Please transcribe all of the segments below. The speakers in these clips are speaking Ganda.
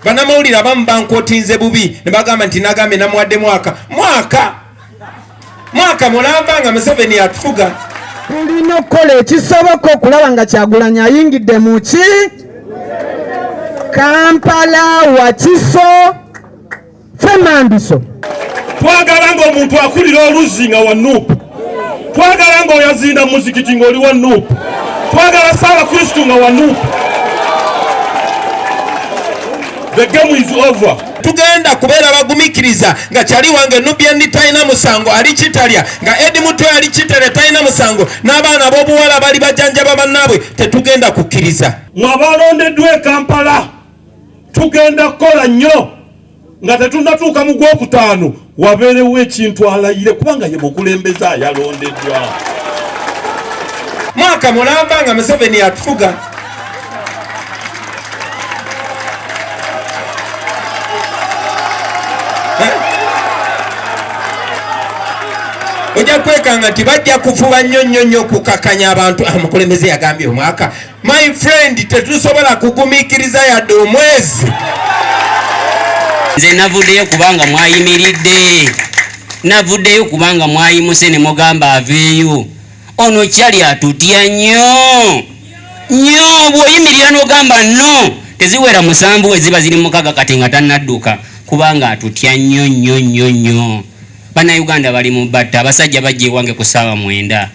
banamawulire abamu bankotinze bubi nebagamba nti nagambye namuwadde mwaka mwaka mwaka mulamba nga museveni atufuga tulina okukola ekisoboka okulaba nga kyagulanyi ayingidde muki kampala wakiso Fernandiso. Twagala nga omuntu akulira oluzzi nga wa nup. Twagala nga oyazinda muzikiti nga oli wa nup. Twagala sala kristu nga wa nup. The game is over. Tugenda kubeera bagumikiriza nga kyali wange Nubian talina musango ali kitalya nga Edi Mutwe ali kitalya talina musango n'abaana b'obuwala bali bajanjaba bannaabwe tetugenda kukkiriza. Mwabalondeddwa e Kampala. tugenda kukola nnyo nga tetunatuuka mu gwokutaano wabeerewo ekintu alayire kubanga ye mukulembeze ayalondeddwa mwaka mulamba nga museveni atufuga ojja kwekanga nti bajja kufuba nnyo nnyo nnyo okukakanya abantu amukulembeze ah, yagambye omwaka My friend, tetusobola kugumikiriza yadde omwezi. Nze navuddeyo kubanga mwayimiridde, navuddeyo kubanga mwayimuse ne mugamba aveeyo. Ono kyali atutya nnyo nnyo, bw'oyimirira n'ogamba no, teziwera musanvu we ziba ziri mukaga kati nga tannadduka kubanga atutya nnyo nnyo nnyo nnyo. Bannayuganda bali mu batta, abasajja bajja ewange ku ssaawa mwenda.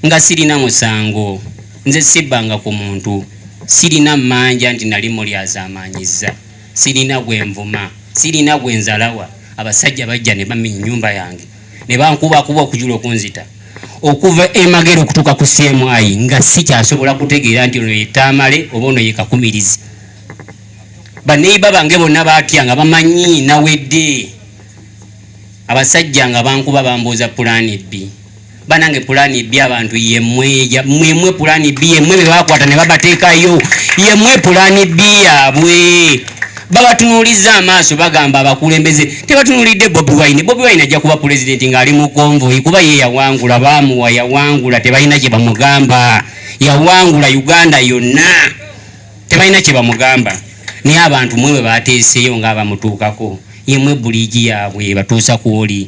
nga sirina musango, nze sibbanga ku muntu, sirina mmanja nti nali mulyazaamaanyizza, sirina gwe nvuma, sirina gwe nzalawa, abasajja bajja ne bamenya ennyumba yange ne bankubakuba okujula okunzita okuva e Magere okutuuka ku CMI nga sikyasobola kutegeera nti ono ye Tamale oba ono ye Kakumirizi. Baneiba bange bonna baatya nga bamanyi nawedde, abasajja nga bankuba bambuuza pulaani bbi. banange pulani bi abantu yemweja mwemwe pulani bi yemwe bebakwata ne babateekayo yemwe pulani bi yabwe babatunuulizza amaaso bagamba abakulembeze tebatunuulidde bobi wine bobi wine ajja kuba pulezidenti ng'ali mu konvoyi kuba ye yawangula baamuwa yawangula tebalina kye bamugamba yawangula uganda yonna tebalina kye bamugamba naye abantu mwe bwe bateeseeyo ng'abamutuukako yemwe buliigi yaabwe batuusa kwoli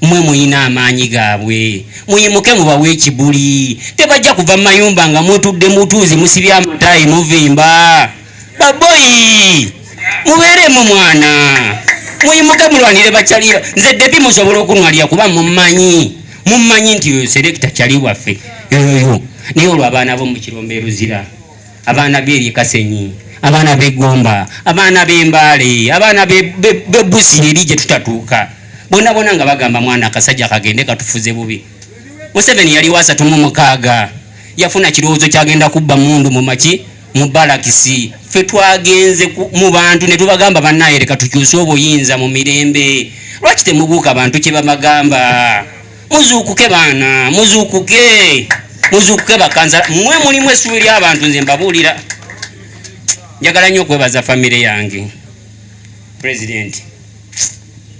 mwe muyina amaanyi gaabwe muyimuke mubawe ekibuli tebajja kuva mu mayumba nga mutudde mutuuzi musibye amataayi muvimba baboyi mubeeremu mwana muyimuke mulwanire bakyaliba nze debi musobola okunwalira kuba mumanyi mumanyi nti oyo selekita kyali waffe yoyo naye olwo abaana bo mukiromba eruzira abaana b'eri Kasenyi, abaana b'e Gomba, abaana b'e Mbale, abaana b'e Buzi eri gye tutatuuka bona bona nga bagamba mwana akasajja kagende katufuze bubi. Museveni yali wa asatu mu mukaaga yafuna kirowoozo kyagenda kubba mundu mu maki mu balakisi. Ffe twagenze mu bantu ne tubagamba bannaye leka tukyuse obuyinza mu mirembe. Lwaki temubuuka bantu kye babagamba? Muzuukuke baana, muzuukuke, muzuukuke bakanza mwe mulimu essuubi ly'abantu. Nze mbabuulira, njagala nnyo okwebaza famire yange, pulezidenti,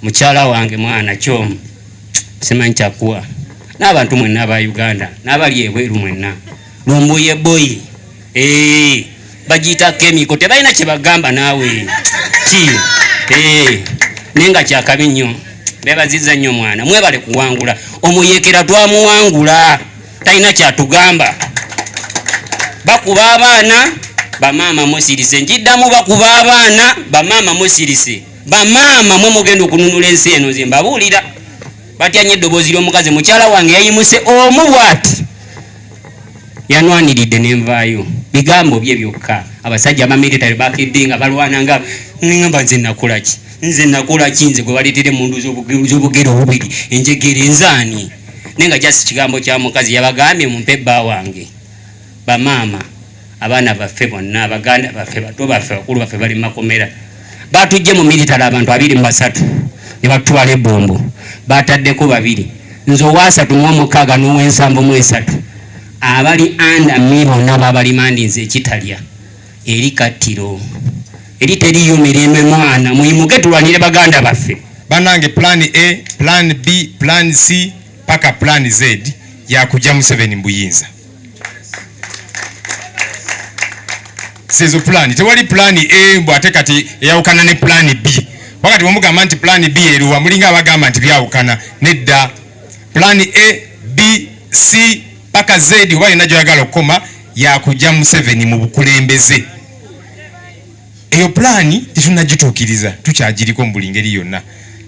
mukyala wange, mwana kyomu simanyi kyakuwa n'abantu mwenna aba Uganda n'abali ebweru mwenna. lumbuye boy eh bajita chemical tebalina kyebagamba naawe ki eh naye nga kyakabi nnyo bebaziza nnyo mwana mwebale kuwangula omuyekera twamuwangula talina kyatugamba bakuba abaana bamaama musirise njiddamu bakuba abaana bamaama musirise bamaama mwe mugenda okununula ensi eno nze mbabuulira batya nnyo eddoboozi ly'omukazi mukyala wange yayimuse omu bwati yanwaniridde nenvaayo bigambo bye byokka abasajja abamilitary bakidde nga balwana nga ngamba nze nakolaki nze nakolaki nze gwe baleetera emundu z'obugere obubiri enjegere nzaani naye nga jasi kigambo kya mukazi yabagambye mumpe bba wange bamaama abaana baffe bonna baganda baffe bato baffe bakulu baffe bali mumakomera batujje mu military abantu abiri mubasatu nebatutwala ebombo bataddeko babiri nze owasatu muomukaaga nowensambo mwesatu abali anda mi bonna babalimandi nze ekitalya eri kattiro eri teriyo mirembe mwana muyimuke tulwanire baganda baffe banange plan a plan b plan c paka plan z yakuja museveni mbuyinza sezo plan tewali plan a mbu ate kati eyawukana ne plan b wakati wamugamba nti plan b eruwa mulinga abagamba nti byawukana nedda plan a b c paka z oba yonna gyoyagala okukoma yakujja museveni mu bukulembeze eyo pulaani tetunnagituukiriza tukyagiriko mu buli ngeri yonna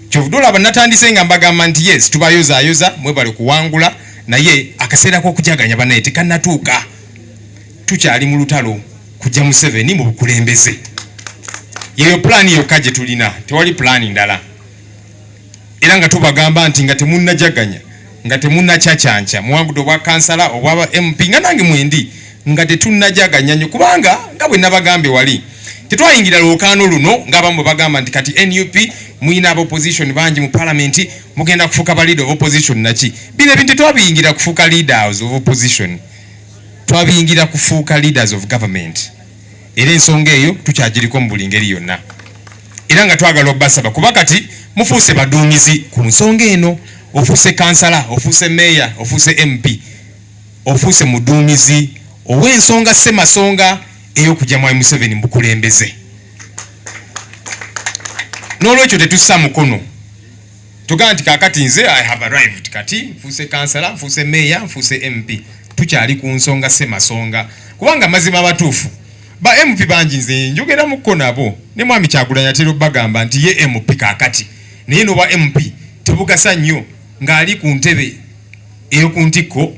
kyovude olaba natandise nga mbagamba nti yes tubayozaayoza mwebale kuwangula naye akaseera k'okujaganya banaye tekanatuuka tukyali mu lutalo kujja museveni mu bukulembeze yeyo pulaani yokka gye tulina tewali pulaani ndala era nga tubagamba nti nga temunajaganya nga temunacacanca muwangudde obwa kansala obwa mp nga nange mwendi nga tetunajaganya nyo kubanga nga bwe nabagambye wali tetwayingira lwokaano luno ngaabamu bwebagamba nti kati nup muyina aba opposition bangi mu palamenti mugenda kufuuka ba leader of opposition naki bino ebintu tetwabiyingira kufuuka leaders of opposition twabiyingira kufuuka leaders of government era ensonga eyo tukyagiriko mu buli ngeri yonna era nga twagala obasaba kuba kati mufuuse baduumizi ku nsonga eno ofuuse kansala ofuuse meeya ofuuse mp ofuuse muduumizi ow'ensonga semasonga ey'okujja mwami museveni mukulembeze n'olwekyo tetussa mukono Tugamba nti kakati nze I have arrived, kati nfuuse kansala, nfuuse meeya, nfuuse MP. Tukyali ku nsonga semasonga, kubanga mazima matuufu ba MP bangi nze njogeramuko nabo ne mwami Kyagulanyi atera obagamba nti ye MP kakati naye noba MP tebugasa nnyo ng'ali ku ntebe eyoku ntikko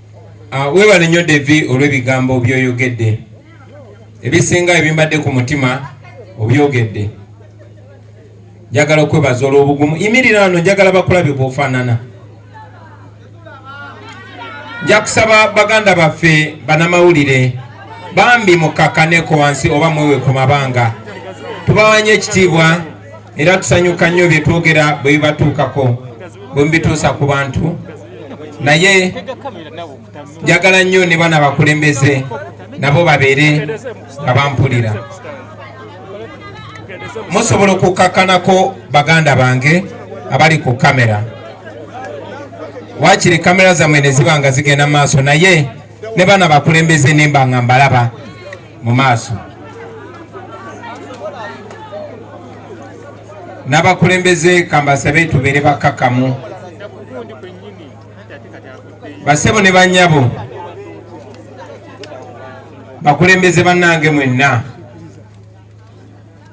Ah, webale nnyo devi olw'ebigambo byoyogedde ebisinga ebimbadde ku mutima obyogedde njagala okwebaza olw'obugumu imirira ano njagala bakulabye bwofaanana nja kusaba baganda baffe banamawulire bambi mukakkaneko wansi oba mwewe ku mabanga tubawanye ekitiibwa era tusanyuka nnyo bye twogera bwe bibatuukako bwe mubituusa ku bantu naye njagala nnyo ne bana bakulembeze nabo babeere nga bampulira musobola okukakkanako baganda bange abali ku kamera wakiri kamera zammwe ne ziba nga zigenda mu maaso naye ne bana bakulembeze nemba nga mbalaba mu maaso n'abakulembeze kambasabe tubeere bakkakkamu basebo ne banyabo bakulembeze bannange mwenna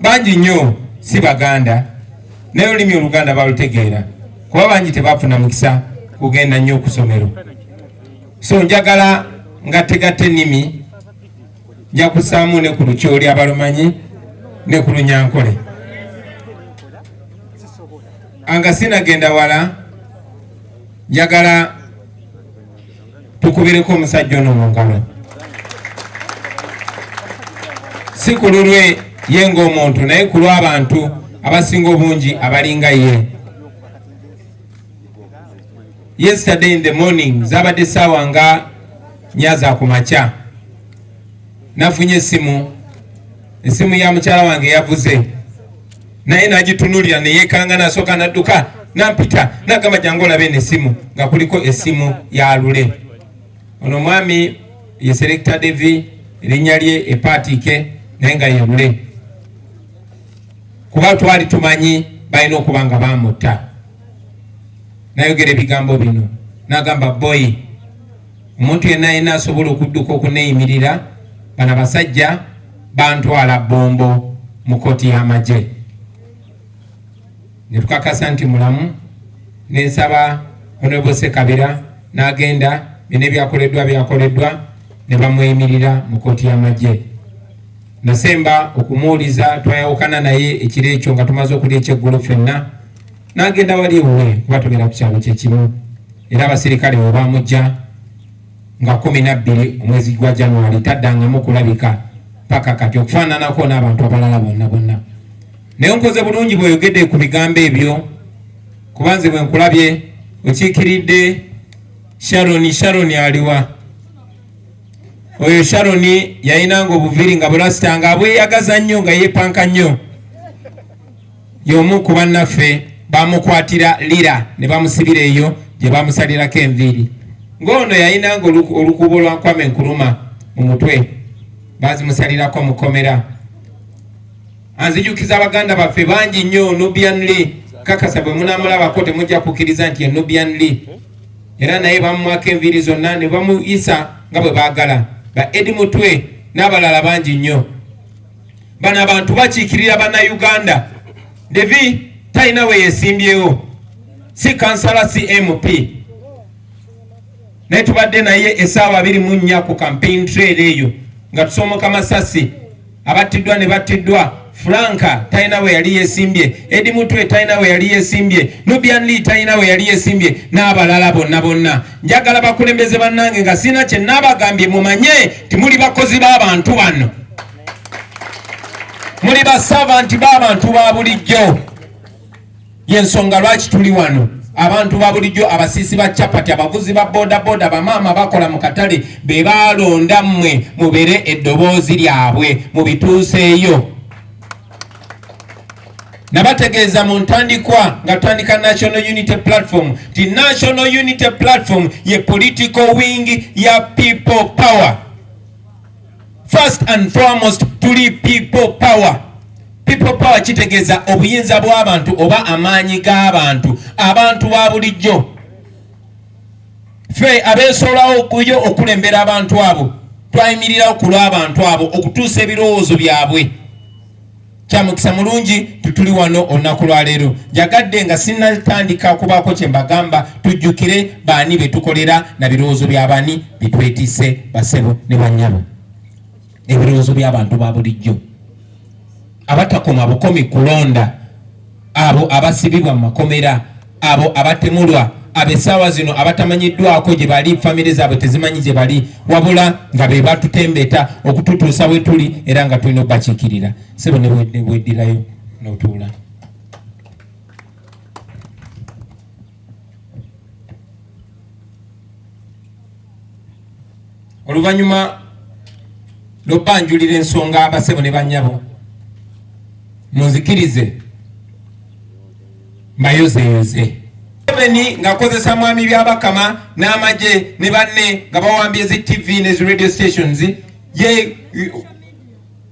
bangi nnyo si Baganda naye olulimi Oluganda balutegeera kuba bangi tebafuna mukisa kugenda nnyo ku ssomero. So njagala ngattegatta ennimi nja kusaamu ne ku lukyoli abalumanyi ne ku lunyankole anga sinagenda wala njagala tukubireko omusajja ono mu ngalo si ku lulwe ye ng'omuntu naye ku lw'abantu abasinga obungi abalinga ye yesterday in the morning zabadde saawa nga nyaza ku makya nafunye esimu esimu ya mukyala wange yavuze naye nagitunulira neyekanga nasooka nadduka nampita nagamba jangu olabe eno essimu nga kuliko essimu ya lule ono omwami ye selekta devi erinnya lye epaatiike naye nga ye lule kuba twali tumanyi balina okuba nga bamutta nayogera ebigambo bino nagamba boyi omuntu yenna yenna asobola okudduka okuneeyimirira bana basajja bantwala bombo mu kooti y'amagye ne tukakasa nti mulamu ne nsaba honorable sekabira n'agenda bino ebyakoleddwa byakoleddwa ne bamweyimirira mu kooti y'amagye nasemba okumuwuliza twayawukana naye ekiro ekyo nga tumaze okulya ekyeggulo fenna n'agenda wali ewuwe kuba tugenda ku kyalo kyekimu era abaserikale we baamujja nga kumi na bbiri omwezi gwa januari taddangamu kulabika paka kati okufaananako n'abantu abalala bonna bonna naye nkoze bulungi bweyogedde ku bigambo ebyo kuba nze bwe nkulabye okiikiridde sharoni sharoni aliwa oyo sharoni yayinanga obuviiri nga bulasita nga abweyagaza nnyo nga yeepanka nnyo Y'omu ku bannaffe baamukwatira Lira ne bamusibira eyo gye baamusalirako enviiri. Ng'ono yalinanga olukuubo lwa Kwame Nkuruma mu mutwe, baazimusalirako mu kkomera. Anzijukiza baganda baffe bangi nnyo Nubian Li kakasa bwe munaamulabako temujja kukkiriza nti ye Nubian Li era naye bamumwako enviiri zonna ne bamuyisa nga bwe baagala ba Edi Mutwe n'abalala bangi nnyo. bano abantu bakiikirira bannayuganda devi talina we yesimbyewo si kansala si mp naye tubadde naye esaawa abiri mu nnya ku campaign trail eyo nga tusoomoka masasi abattiddwa ne battiddwa franka talina we yali yesimbye edi mutwe talina we yali yesimbye nubian lee talina we yali yesimbye n'abalala bonna bonna njagala bakulembeze bannange nga sirina kye nabagambye mumanye nti muli bakozi b'abantu bano muli basavanti b'abantu ba bulijjo yensonga lwaki tuli wano abantu ba bulijjo abasiisi ba capati abavuzi ba bodaboda bamaama bakola mu katale be balonda mmwe mubeere eddoboozi lyabwe mubituuseeyo nabategeeza mu ntandikwa nga tandika National Unity Platform nti National Unity Platform ye political wing ya people power. First and foremost tuli people power. People power kitegeeza obuyinza bw'abantu oba amaanyi g'abantu, abantu ba bulijjo. ffe abeesolawo okuyo okulembera abantu abo twayimirirawo ku lw'abantu abo okutuusa ebirowoozo byabwe kyamukisa mulungi tutuli wano olunaku lwaleero njagadde nga sinatandika kubaako kye mbagamba tujjukire baani be tukolera na birowoozo bya bani bitwetise basebo ne bannyabo ebirowoozo by'abantu ba bulijjo abatakoma bukomi kulonda abo abasibibwa mu makomera abo abatemulwa abesaawa zino abatamanyiddwako gye bali famire zaabwe tezimanyi gye bali wabula nga be batutembeta okututuusa we tuli era nga tulina okubakiikirira sebo nebweddirayo notuula oluvannyuma lw'obanjulira ensonga abasebo ne bannyabo munzikirize mbayozeyoze museveni ng'akozesa mwami byabakama n'amagye ne banne nga bawambye zi tv ne zi radio stations ye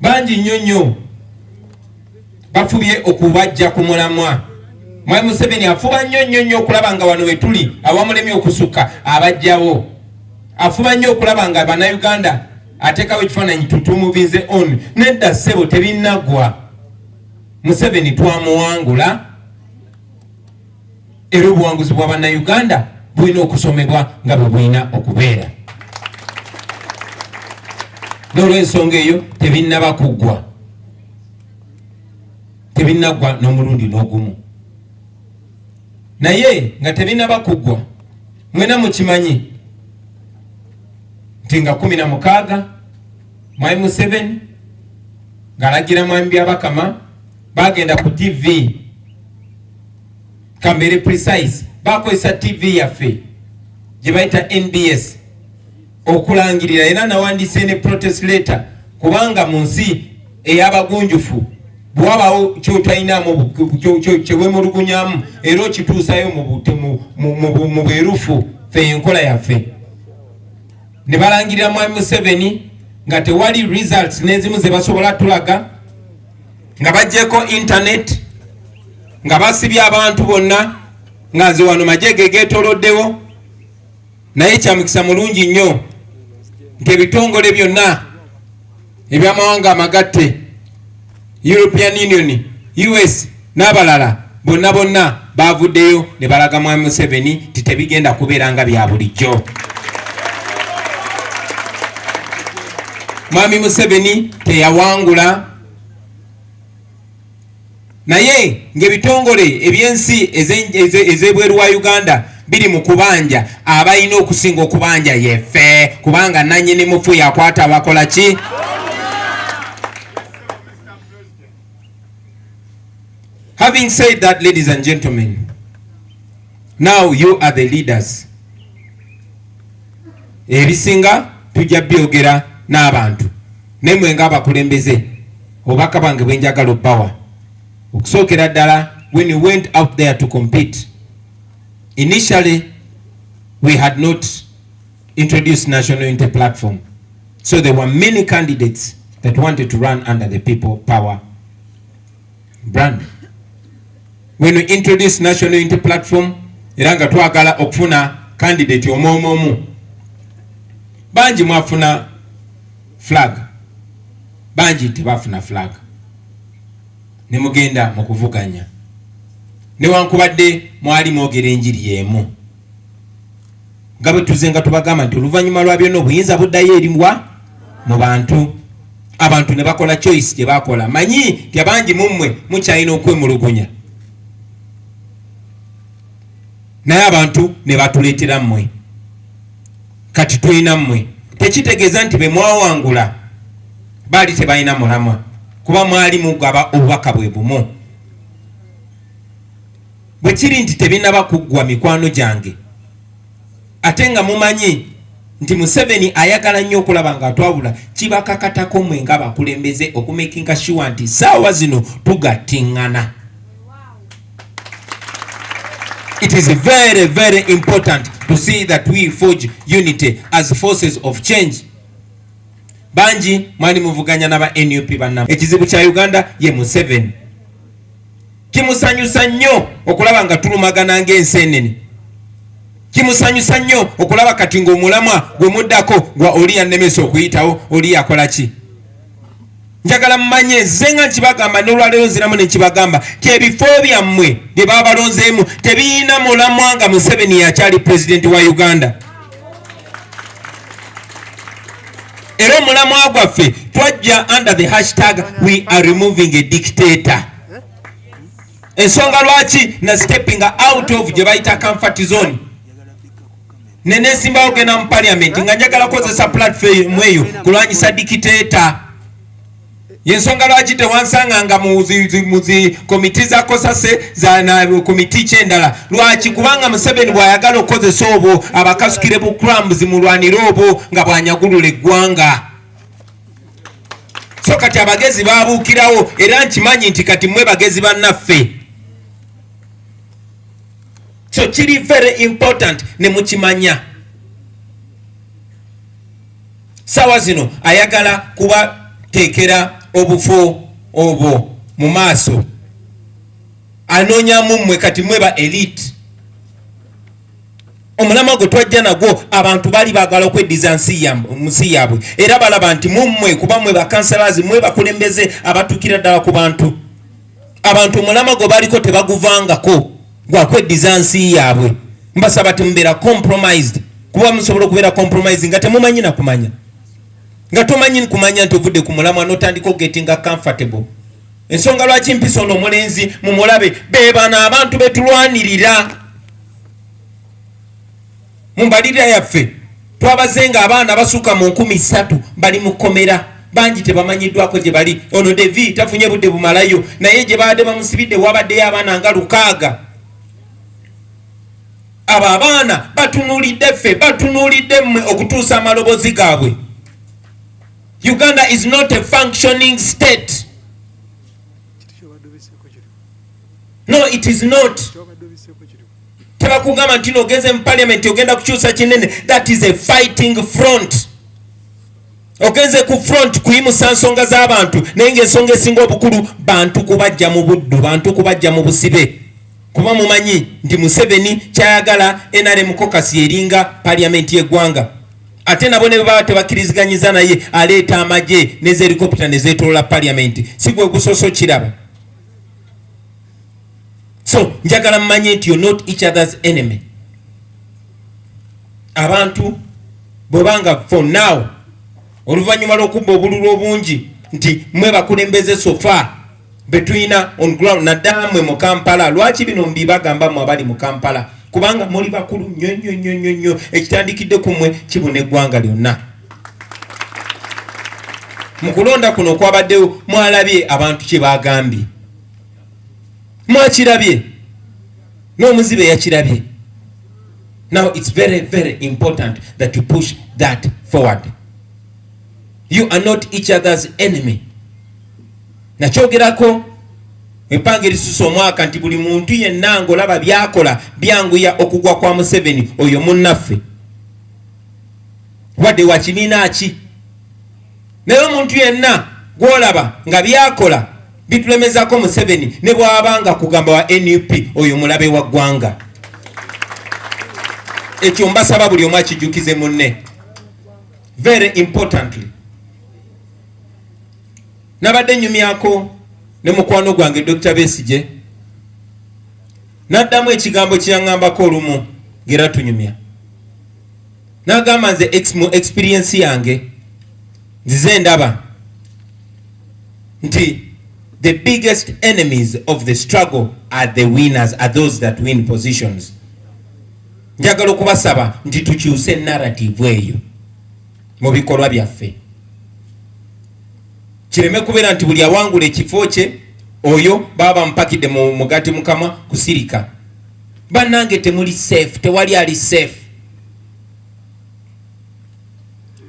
bangi nnyo nnyo bafubye okubajja ku mulamwa mwami museveni afuba nnyo nnyo nnyo okulaba nga wano wetuli awamulemye okusukka abajjawo afuba nnyo okulaba nga banauganda atekawo ekifaananyi tutumuvinze on nedda ssebo tebinagwa museveni twamuwangula era obuwanguzi bwa bannayuganda bulina okusomebwa nga bwe bulina okubeera n'olwensonga eyo tebinnaba kuggwa tebinnaggwa n'omulundi n'ogumu naye nga tebinnaba kuggwa mwena mukimanyi nti nga kumi na mukaaga mwami museveni ng'alagira mwami byabakama bagenda ku TV kambere precise bakozesa TV yaffe gye bayita NBS okulangirira era nawandiise ne protest letter kubanga mu nsi ey'abagunjufu bwabawo kyotalinamu kyewemulugunyamu era okituusayo mu bwerufu fe enkola yaffe ne balangirira mwami museveni nga tewali results n'ezimu ze basobola tulaga nga bajjeko internet nga basibye abantu bonna nga nze wano majege getoloddewo naye kyamukisa mulungi nnyo nti ebitongole byonna ebyamawanga amagatte european union us n'abalala bonna bonna baavuddeyo ne balaga Mwami Museveni nti tebigenda kubeera nga bya bulijjo. Mwami Museveni teyawangula naye ng'ebitongole eby'ensi ez'ebweru wa Uganda biri mu kubanja abalina okusinga okubanja yefe kubanga nanyini mufu yakwata bakola ki Having said that, ladies and gentlemen, now you are the leaders. Ebisinga tujja byogera n'abantu naye mwe nga abakulembeze obubaka bwange bwe njagala obbawa okusookera ddala when you went out there to compete initially we had not introduce National Unity Platform. So there were many candidates that wanted to run under the people power brand. When we introduce National Unity Platform, era nga twagala okufuna candidate omwomu omu bangi mwafuna flag bangi tebafuna flag ne mugenda mu kuvuganya newankubadde mwali mwogera enjiri y'emu nga bwe tuze nga tubagamba nti oluvannyuma lwa byonna obuyinza buddayo eriwa mu bantu abantu ne bakola choice gye bakola manyi nti abangi mu mmwe mukyalina okwemulugunya naye abantu ne batuleetera mmwe kati tulina mmwe tekitegeeza nti be mwawangula baali tebalina mulamwa kuba mwali mugaba obubaka bwe bumu Bwe kiri nti tebinaba kuggwa mikwano gyange ate nga mumanyi nti Museveni ayagala nnyo okulaba nga atwawula kibakakatako mwe nga bakulembeze okumekinga shuwa nti saawa zino tugattingana It is very very important to see that we forge unity as forces of change bangi mwali muvuganya naba nup banna ekizibu kya uganda ye Museveni kimusanyusa nnyo okulaba nga tulumagana ng'enseenene kimusanyusa nnyo okulaba kati ng'omulamwa gwe muddako gwa oli yannemesa okuyitawo oli yakola ki njagala mumanye ze nga nkibagamba nolwaleero nziramu nekibagamba kyebifo byammwe bye babalonzeemu tebiyina mulamwa nga museveni yakyali pulezidenti wa uganda era omulamwa gwaffe twajja under the hashtag we are removing a dictator ensonga lwaki na stepping out of gye bayita comfort zone nenesimbawo genda mu parliament nga njagala kukozesa platform eyo kulwanyisa dictator yensonga lwaki tewansanga nga muzi komiti za kosase zana komiti kyendala lwaki kubanga museveni bwayagala okukozesa obwo abakasukire bu crams mulwanire obwo nga bwanyagulula eggwanga so kati abagezi babuukirawo era nkimanyi nti kati mwe bagezi bannaffe so kiri very important ne mukimanya sawa zino ayagala kubateekera obufo obwo mu maaso anoonyamu mmwe kati mwe ba elite omulamwa gwe twajja nagwo abantu bali bagala okweddiza nsi yaabwe era balaba nti mummwe kuba mwe bakansalazi mwe bakulembeze abatukira ddala ku bantu abantu omulama gwe baliko tebaguvangako gwakweddiza nsi yaabwe mbasaba timubeera compromised kuba musobola okubeera compromise nga temumanyi nakumanya nga tomanyi kumanya nti ovudde ku mulamwa notandika ogetinga comfortable ensonga lwaki mpisa ono omulenzi mumulabe bebano abantu betulwanirira mu mbalirira yaffe twabaze nga abaana basuka mu nkumi satu bali mu komera bangi tebamanyiddwako gye bali ono devi tafunye budde bumalayo naye gye baadde bamusibidde wabaddeyo abaana nga lukaaga abo abaana batunulidde ffe batunulidde mmwe okutuusa amalobozi gaabwe uganda is not a functioning state no it is not tebakugamba nti nogeze mu parliament ogenda kukyusa kinene that is a fighting front ogenze ku front kuyimusa nsonga z'abantu naye ngaensonga esinga obukulu bantu kubajja mu buddu bantu kubajja mu busibe kuba mumanyi nti museveni kyayagala nrm kokasi yeringa parliament yegwanga ate nabo ne baba tebakiriziganyiza naye aleeta amagye nezelikopita nezetolola parliament sigwe gusosokiraba so njagala mmanye nti you're not each other's enemy abantu bwebanga for now oluvannyuma lw'okubba obululu obungi nti mwe bakulembeze sofa betulina on ground naddala mwe mu kampala lwaki bino mbibagamba mwe abali mu kampala kubanga muli bakulu nnyo nnyo nnyo nnyo nnyo ekitandikidde ku mwe kibuna eggwanga lyonna mu kulonda kuno kwabaddewo mwalabye abantu kye baagambye mwakirabye n'omuzibe yakirabye now it's very very important that you push that forward you are not each other's enemy nakyogerako empanga erisusa omwaka nti buli muntu yenna ngaolaba byakola byanguya okugwa kwa museveni oyo munnaffe wadde wakibiina ki naye omuntu yenna gwolaba nga byakola bitulemezako museveni ne bwaba nga kugamba wa nup oyo mulabe wa ggwanga ekyo mbasaba buli omu akijukize munne very importantly nabadde nyumyako ne mukwano gwange dr besije naddamu ekigambo kyeyaŋambako olumu ngera tunyumya nagamba nze ex mu experience yange nzize ndaba nti the biggest enemies of the struggle are the winners are those that win positions njagala okubasaba nti tukyuse narrative eyo mu bikolwa byaffe kireme kubeera nti buli awangula ekifo kye oyo baba bamupakidde mu mugati mukama kusirika bannange temuli safe tewali ali safe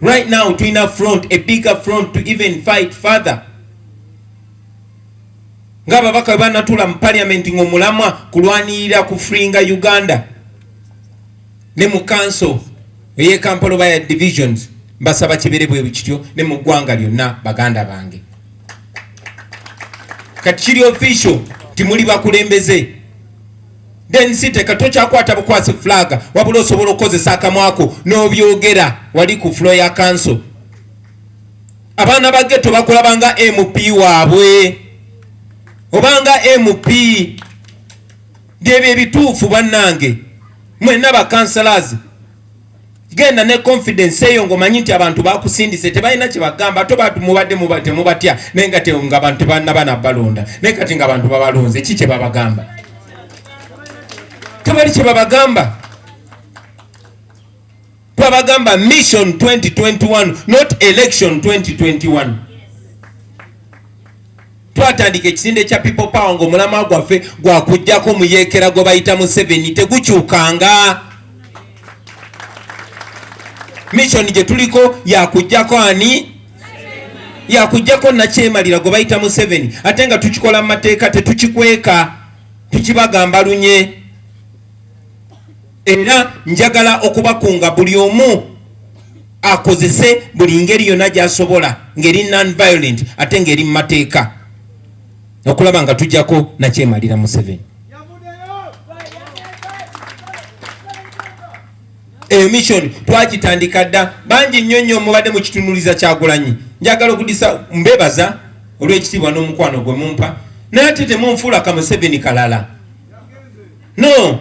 right now tulina front a bigger front to even fight further nga ababaka bwe banatula mu parliament ngaomulamwa kulwanirira ku fringa uganda ne mu council eyekampala oba ya divisions mbasaba kibere bwe kityo ne mu ggwanga lyonna baganda bange kati kiri official timuli bakulembeze Then siteka tokyakwata bukwasi flag wabula osobola okukozesa akamwako n'obyogera wali ku flo ya kanso. Abaana ba geto bakulabanga MP waabwe obanga MP byebyo ebituufu bannange mwenna bakansalazi genda ne confidence eyo ngomanyi nti abantu bakusindise tebalina kyebagamba to mubadde temubatya naye nga nga abantu tebalina bana balonda naye kati nga abantu babalonze ki kyebabagamba tebali kyebabagamba twabagamba mission 2021 not election 2021 twatandika ekisinde kya people power nga omulama gwaffe gwakujjako muyeekera gwe bayita museveni tegukyukanga mission gye tuliko yakujjako ani yakujjako nakyemalira gwe bayita museveni ate nga tukikola mu mateeka tetukikweka tukibagamba lunye era njagala okubakunga buli omu akozese buli ngeri yonna gyasobola ngeri nonviolent ate ngeri mu mateeka okulaba nga tujjako nakyemalira museveni eyo mission twagitandika dda bangi nnyo nnyo mubadde mukitunuliza kyagulanyi njagala okudisa mbebaza olw'ekitiibwa n'omukwano gwe mumpa naye ate temunfuula kamuseveni kalala no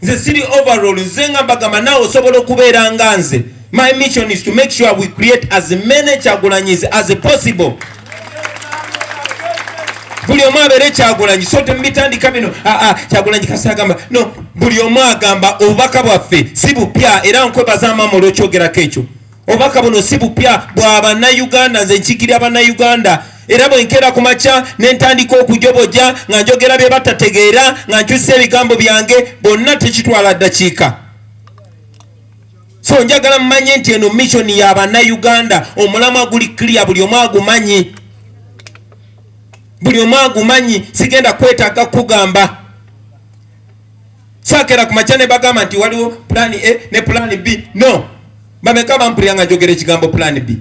nze siri overall nze nga mbagamba nawe osobola okubeera nga nze my mission is to make sure we create as many kyagulanyis as possible buli omu abeere kyagulanyi so temubitandika bino aa ah, ah, kyagulanyi kasi agamba no buli omu agamba obubaka bwaffe si bupya era nkwebaza maama olwokyogerako ekyo obubaka buno si bupya bwa bannayuganda nze nkikirira bannayuganda era bwe nkeera ku makya ne ntandika okujoboja nga njogera bye batategeera nga nkyusa ebigambo byange bonna tekitwala ddakiika so njagala mumanye nti eno missioni ya bannayuganda omulamwa guli clear buli omu agumanyi buli omu agumanyi sigenda kwetaaga kugamba Sakera ku makya ne bagamba nti waliwo plan A ne plan B. No. Bameka bampulira nga njogera ekigambo plan B.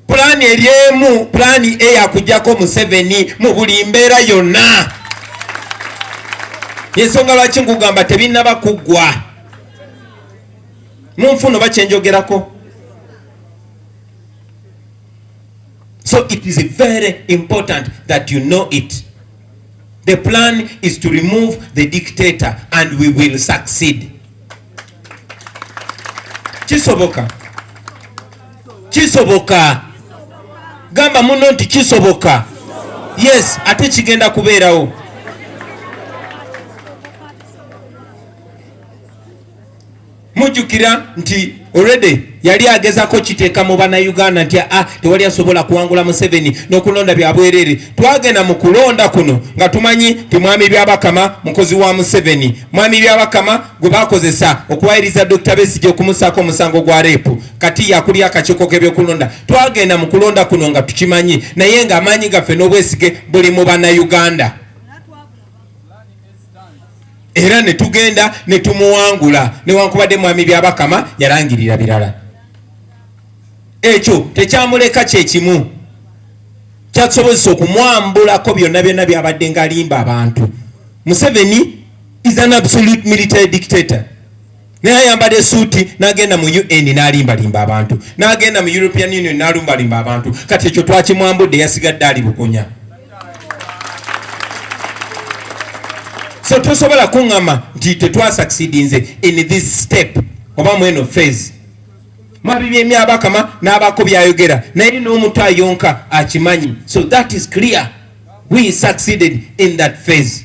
Plan eri emu, plan A yakujjako Museveni mu buli mbeera yonna. Yensonga lwaki nkugamba tebinnaba kuggwa. Munfuno bakyenjogerako. So it is very important that you know it. The plan is to remove the dictator and we will succeed. Kisoboka. Kisoboka. Gamba muno nti kisoboka. Yes, ate kigenda kubeerawo. mujjukira nti already yali agezako kiteeka mu bannayuganda nti a ah, tewali asobola kuwangula museveni n'okulonda bya bwereere twagenda mu kulonda kuno nga tumanyi nti mwami byabakama mukozi wa museveni mwami byabakama gwe bakozesa okuwayiriza dr besigi okumusaako omusango gwa reepu kati yakulya akakiiko k'ebyokulonda twagenda mu kulonda kuno nga tukimanyi naye ng'amaanyi gaffe n'obwesige buli mu bannayuganda era ne tugenda ne tumuwangula newankubadde mwami byabakama yalangirira birala ekyo tekyamuleka kyekimu kyatusobozesa okumwambulako byonna byonna byabadde nga alimba abantu museveni is an absolute military dictator naye ayambadde esuuti n'agenda mu un n'alimbalimba abantu n'agenda mu european union n'alumbalimba abantu kati ekyo twakimwambudde yasigadde ali bukunya so tosobola kuŋŋama nti tetwasakisidinze in this step oba mu eno phase mabibyemyabakama n'abako byayogera naye n'omutu ayonka akimanyi so that is clear we succeeded in that phase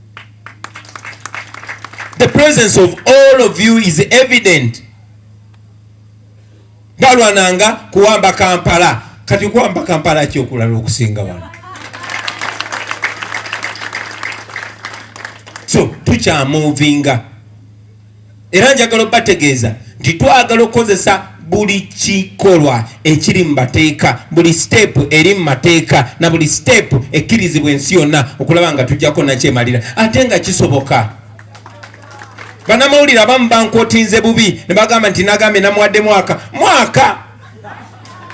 The presence of all of you is evident. Balwananga kuwamba Kampala. Kati kuwamba Kampala ki okulala okusinga wano? So, tukyamuvinga. era njagala obategeeza nti twagala okukozesa buli kikolwa ekiri mu mateeka buli siteepu eri mu mateeka na buli siteepu ekkirizibwa ensi yonna okulaba nga tujjako nakyemalira ate nga kisoboka banamawulire abamu bankotinze bubi ne bagamba nti nagambye namuwadde mwaka mwaka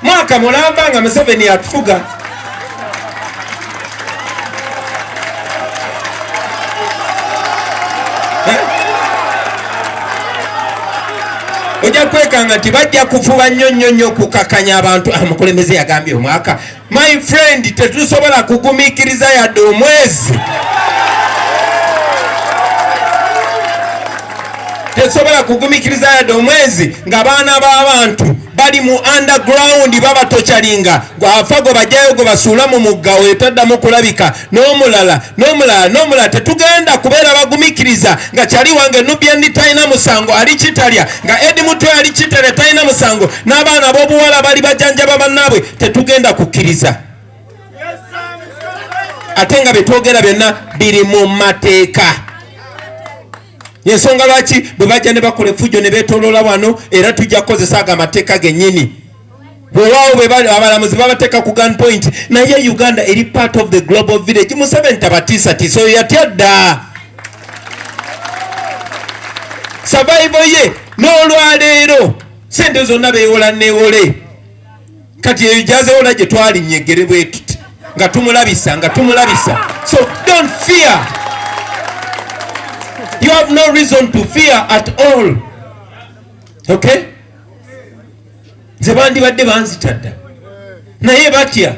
mwaka mulamba nga museveni atufuga ojja kwekanga nti bajja kufuba nnyo nnyo nnyo okukakanya abantu ah, mukulembeze yagambye omwaka My friend, tetusobola kugumikiriza yadde omwezi. Tetusobola kugumikiriza yadde omwezi nga baana b'abantu bali mu underground babatocalinga gwafa gwe bajayo gwe basuula mu mugga oyo taddamu kulabika. n'omulala n'omulala n'omulala tetugenda kubeera bagumikiriza nga kyali wange nubyendi talina musango ali kitalya nga edi mutwe ali kitalya talina musango n'abaana b'obuwala bali bajanjaba bannaabwe tetugenda kukkiriza ate nga byetwogera byonna biri mu mateeka yensonga lwaki bwe bajja ne bakola efujjo ne beetoloola wano era tujja kukozesa ago amateeka gennyini wewawo bwebali abalamuzi babateka ku gun point naye uganda eri part of the global village museveni tabatiisatiisa oyo yatya dda savaivo ye n'olwaleero sente zonna bewola newole kati eyo gyazewola gye twalinnye eggere bwetuti nga tumulabisa nga tumulabisa so don't fear you have no reason to fear at all okay nze bandibadde banzita dda naye batya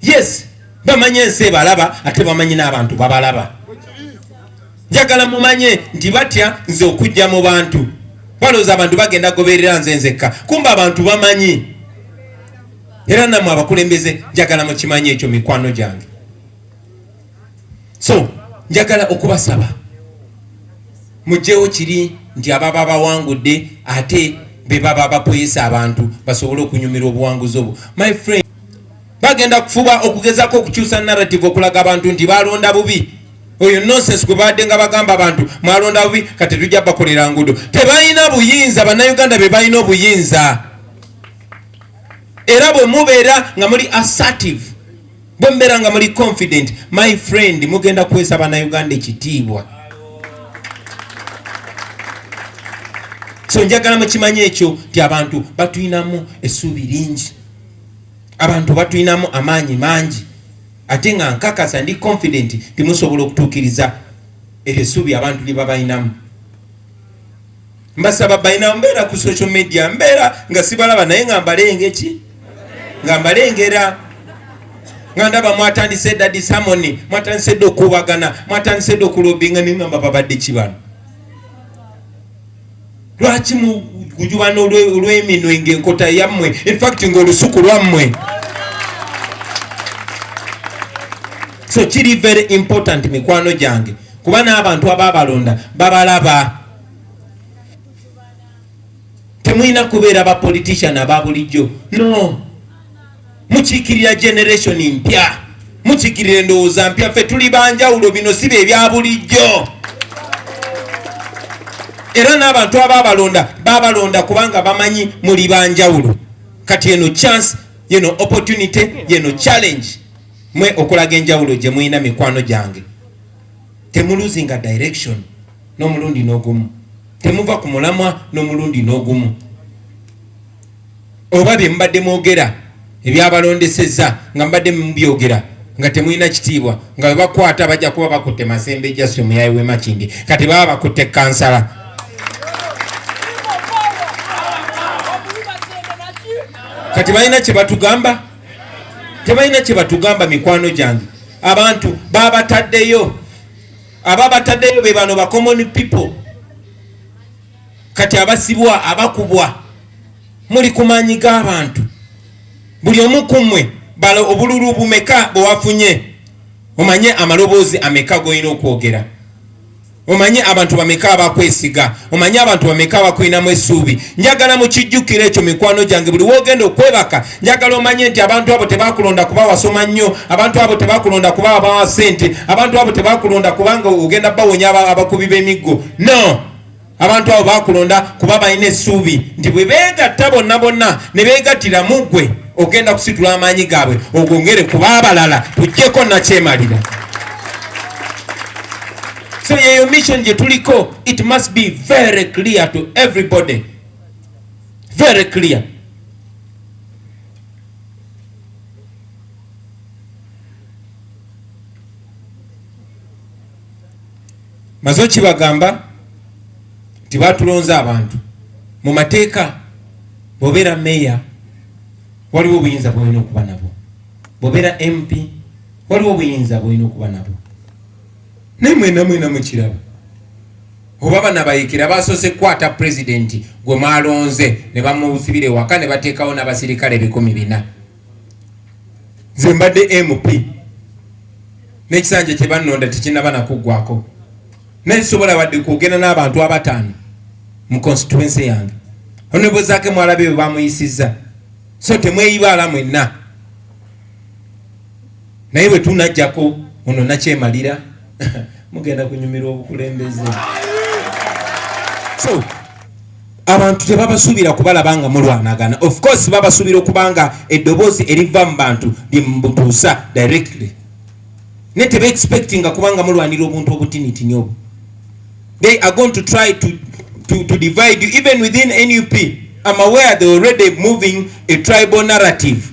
yes bamanye ensi ebalaba ate bamanyi n'abantu babalaba njagala mumanye nti batya nze okujja mu bantu balooza abantu bagenda goberera nze nzekka kumba abantu bamanyi era namwe abakulembeze njagala mukimanye ekyo mikwano gyange so njagala okubasaba mugyewo kiri nti ababa bawangudde ate bebaba bapoyesa abantu basobole okunyumira obuwanguzi obwo my friend bagenda kufuba okugezako okukyusa narrative okulaga abantu nti balonda bubi oyo nonsense gwe baadde nga bagamba abantu mwalonda bubi kati tujja bakolera ngudo tebalina buyinza bannayuganda be balina obuyinza era bwe mubeera nga muli assertive bwe mbeera nga muli confident my friend mugenda kuweesa banauganda ekitiibwa so njagala mukimanya ekyo nti abantu batulinamu essuubi lingi abantu batulinamu amaanyi mangi ate nga nkakasa ndi confident timusobola okutuukiriza eryo essuubi abantu lye babalinamu mbasaba balina mbeera ku social media mbeera nga sibalaba naye nga mbalenge ki nga mbalengera nga ndaba mwatandise dda disamoni mwatandise dda okukubagana mwatandise dda okulobinga naye ngamba babadde ki bano lwaki mugujubana olweminwe ngaenkota yammwe infact ngaolusuku lwammwe so kiri very important mikwano gyange kuba n'abantu abaabalonda babalaba temulina kubeera ba politician aba bulijjo no mukiikirira generation mpya mukiikirira endowooza mpya ffe tuli banjawulo bino si bye bya bulijjo era n'abantu abaabalonda baabalonda kubanga bamanyi muli banjawulo kati eno chance yeno opportunity yeno challenge mwe okulaga enjawulo gye mulina mikwano gyange temuluzinga direction n'omulundi n'ogumu temuva ku mulamwa n'omulundi n'ogumu oba bye mubadde mwogera ebyabalondesezza nga mubadde mubyogera nga temulina kitiibwa nga webakwata bajja kuba bakutte masembe jasi omuyayi wemakindi kati baba bakutte kansala kati balina kyebatugamba tebalina kyebatugamba mikwano gyange abantu babataddeyo aba batadeyo be bano ba common people kati abasibwa abakubwa muli kumanyi g'abantu buli omu kumwe bala obululu bumeka bwewafunye omanye amaloboozi ameka golina okwogera omanye abantu bameka abakwesiga omanyi abantu bameka abakulinamu essuubi njagala mukijjukira ekyo mikwano gyange buli wogenda okwebaka njagala omanye nti abantu abo tebakulonda kuba wasoma nnyo abantu abo tebakulonda kuba abawa sente abantu abo tebakulonda kubanga ogenda bawonya abakubi b'emiggo no abantu abo bakulonda kuba balina essuubi nti bwe beegatta bonna bonna ne beegattira mu ggwe ogenda kusitula amaanyi gaabwe ogongere kuba abalala tujjeko nakyemalira So yeyo mission gye tuliko, it must be very clear to everybody, very clear. maze okibagamba nti batulonze abantu mu mateeka bwobeera meeya waliwo obuyinza bwolina okuba nabwo bwobeera mp waliwo obuyinza bwolina okuba nabwo naye mwena mwena mukiraba oba banabayekera basose kukwata pulezidenti gwe mwalonze ne bamusibira ewaka ne bateekawo n'abasirikale ebikumi bina nze mbadde mp n'ekisanja kye bannonda tekinaba nakuggwako naye sobola wadde kwogenda n'abantu abataano mu constituency yange onebozaake mwalabe bwe bamuyisizza so temweyibaala mwenna naye bwe tunajjako ono nakyemalira mugenda kunyumirwa obukulembeze so abantu tebabasuubira kubalaba nga mulwanagana of course babasuubira okuba nga eddoboozi eriva mu bantu lyemubutuusa directly naye tebeexpectinga kubanga mulwanira obuntu obutinitini obwo they are going to try to, to, to divide you even within nup am aware they already moving a tribal narrative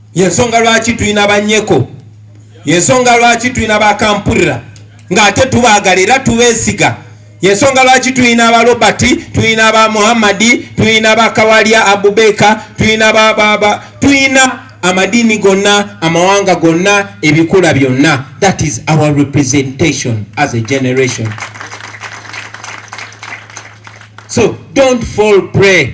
yensonga lwaki tulina banyeko yensonga lwaki tulina bakampurira ng'ate tubaagala era tubeesiga yensonga lwaki tulina aba robert tulina ba muhammadi tulina ba kawalya abubeka tulina bababa tulina amadiini gonna amawanga gonna ebikula byonna that is our representation as a generation so don't fall pray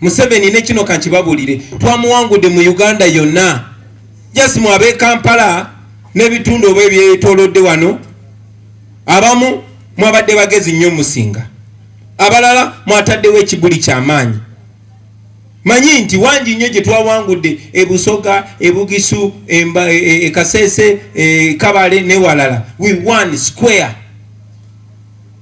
Museveni ne kino kankibabulire twamuwangudde mu Uganda yonna just mu ab'e Kampala n'ebitundu oba ebyetolodde wano abamu mwabadde bagezi nnyo musinga abalala mwataddewo ekibuli ky'amaanyi manyi nti wangi nnyo gye twawangudde ebusoga ebugisu ekaseese e, e, e, kabale newalala we one square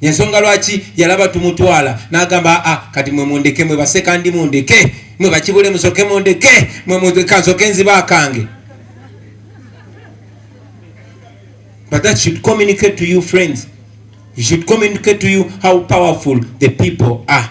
yensonga lwaki yalaba tumutwala nagamba aa ah, kati mwe mundeke mwe baseka ndi mundeke mwe bakibule musoke mundeke mwe mukansoke nziba akange but that should communicate to you friends you should communicate to you how powerful the people are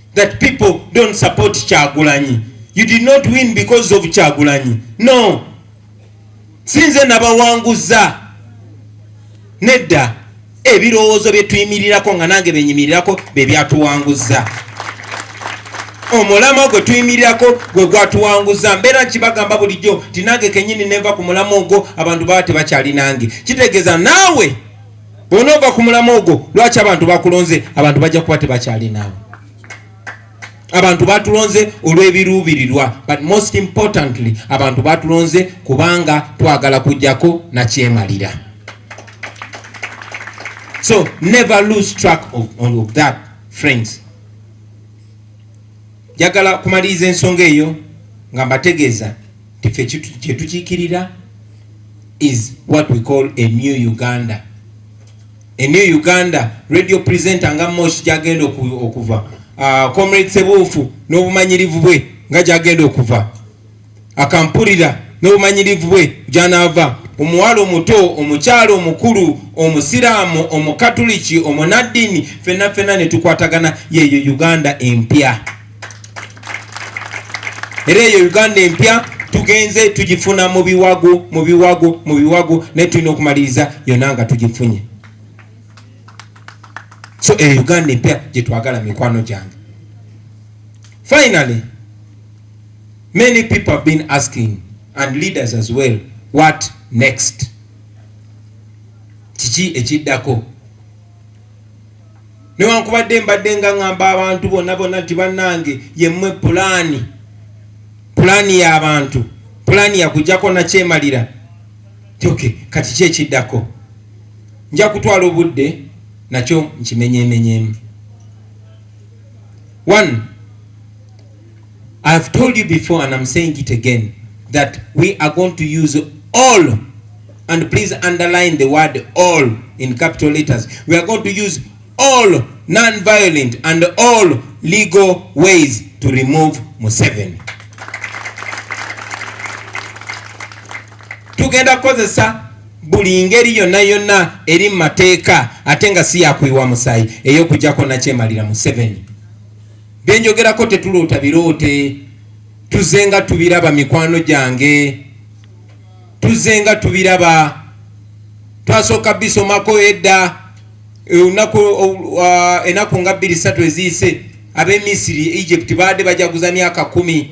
that people don't support Kyagulanyi. You did not win because of Kyagulanyi. No. Sinze nabawanguza. Nedda ebirowoozo bye tuyimirirako nga nange benyimirirako be byatuwanguza. Omulamwa gwe tuyimirirako gwe gwatuwanguza. Mbeera nkibagamba bulijjo nti nange kennyini nenva ku mulamwa ogwo abantu baba tebakyali nange. Kitegeeza naawe bw'onoova ku mulamwa ogwo lwaki abantu bakulonze abantu bajja kuba tebakyalinaawo abantu batulonze olw'ebiruubirirwa but most importantly abantu batulonze kubanga twagala kujjako nakyemalira so never lose track of, of that friends njagala kumaliriza ensonga eyo nga mbategeeza Ffe kyetukiikirira is what we call a new Uganda. A new Uganda radio presenter nga Mosh gyagenda okuva uh, Comrade Sebuufu n'obumanyirivu bwe nga gyagenda okuva akampulira n'obumanyirivu bwe gyanaava omuwala omuto omukyala omukulu omusiraamu omukatuliki omunaddini fenna fenna ne tukwatagana yeeyo Uganda empya. era eyo uganda empya tugenze tugifuna mu biwago mu biwago mu biwago naye tulina okumaliriza yona nga tugifunye so eyo uganda empya gyetwagala mikwano gyange finally many people have been asking and leaders as well what next kiki ekiddako newankubadde mbadde nga ŋŋamba abantu bonna bonna nti bannange yemmwe pulaani pulaani y'abantu pulaani yakujjako nakyemalira tyoke kati ki ekiddako nja kutwala obudde nakyo nkimenyemenyemu one I have told you before and I'm saying it again that we are going to use all and please underline the word all in capital letters. We are going to use all non-violent and all legal ways to remove Museveni. Tugenda kozesa buli ngeri yonna yonna eri mu mateeka ate nga si yakuyiwa musaayi ey'okujjako nakyemalira Museveni. byenjogerako tetuloota biroote tuze nga tubiraba mikwano gyange tuze nga tubiraba twasooka bisomako edda eh, olunaku ah, enaku nga bbiri satu eziyise abemisiri egypt baadde bajaguza myaka kumi